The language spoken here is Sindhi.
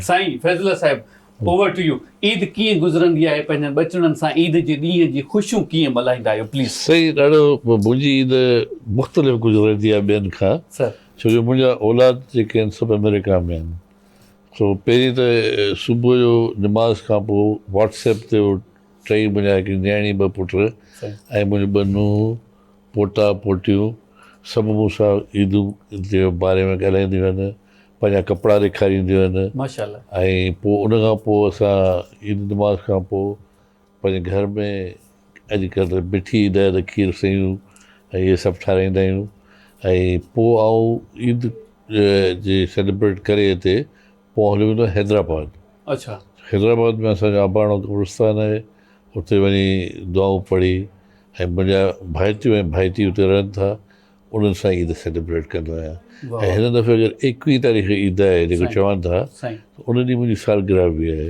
سائين فيض الله صاحب اوور ٽو يو عيد ڪيئن گذرندي آهي پنهنجن ٻچڙن سان عيد جي ڏينهن جي خوشيون ڪيئن ملهائيندا آهيو پليز. سائين ڏاڍو منهنجي عيد مختلف گذرندي آهي ٻين کان ڇو جو منهنجا اولاد جيڪي آهن سڀ آمريڪا ۾ آهن سو پهرين ته صبح جو نماز کان پوء واٽس ايپ تي ٽئي منهنجا هڪڙي نياڻي ٻه پٽ ۽ منهنجو ٻه نونهن پوٽا پوٽيون سڀ مون سان عيدون جي باري ۾ ڳالهائينديون آهن پنهنجا ڪپڙا ڏيکارينديون آهن ۽ پوء ان کان پوء اسان عيد نماز کان پوء پنهنجي گهر ۾ اڄ ڪلهه ته مٺي ڏهه ته کير سيون ۽ اهي سڀ ٺاراهيندا آهيون ۽ پوء آئون عيد جي سيليبريٽ ڪري هتي پوء آئون هليو ويندو آهيان حيدرآباد حيدرآباد ۾ اسان جو اباڻو قبرستان آهي اتي وڃي دعائون پڙهي ۽ منهنجا ڀائٽيون ۽ ڀائٽي اتي رهن ٿا انهن سان عيد سيليبريٽ ڪندو آهيان ۽ هن دفعي اگر ايڪويهه تاريخ عيد آهي جيڪو چون ٿا ان ڏينهن منهنجي سالگرهه به آهي